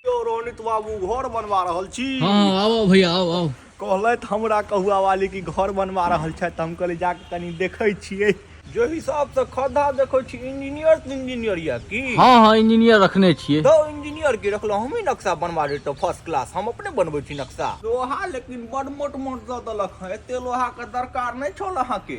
यौ रोनित बाबू घर बनवा रहल छी हाँ आओ भैया आओ आओ कहलथि हमरा कहुआ वाली की घर बनवा रहल छथि हम कहलियै जाके कनि देखै छियै जे हिसाबसँ खद्धा देखै छी इंजीनियर तऽ इंजीनियर यऽ की हाँ हाँ इंजीनियर रखने छियै दो इंजीनियर के रखलो हम ही नक्शा बनवा देतो फर्स्ट क्लास हम अपने बनबै छी नक्शा लोहा लेकिन बड मोट मोट दऽ देलक हँ एते लोहा के दरकार नहि छल अहाँ के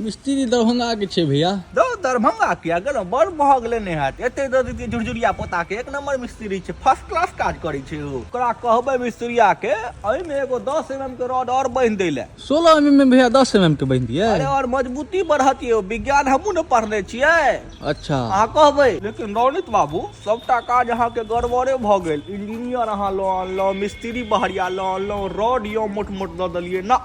मिस्त्री दरभंगा के छै भैया दो दरभंगा के अगर बड़ भग लेने हैत एते दे देती झुरझुरिया पोता के एक नंबर मिस्त्री छै फर्स्ट क्लास काज करे छै ओ ओकरा कहबे मिस्त्रिया के अई में एगो 10 एमएम के रॉड और बांध दे ले 16 एमएम में भैया 10 एमएम के बांध दिए अरे और मजबूती बढ़ती है विज्ञान हमू ने पढ़ने छिए अच्छा अहा कहबे लेकिन रौनित बाबू सबटा काज अहा के गड़बड़े भ गेल इंजीनियर अहा लो आनलो मिस्त्री बहरिया लो आनलो रॉड यो मोट मोट द दलिए ना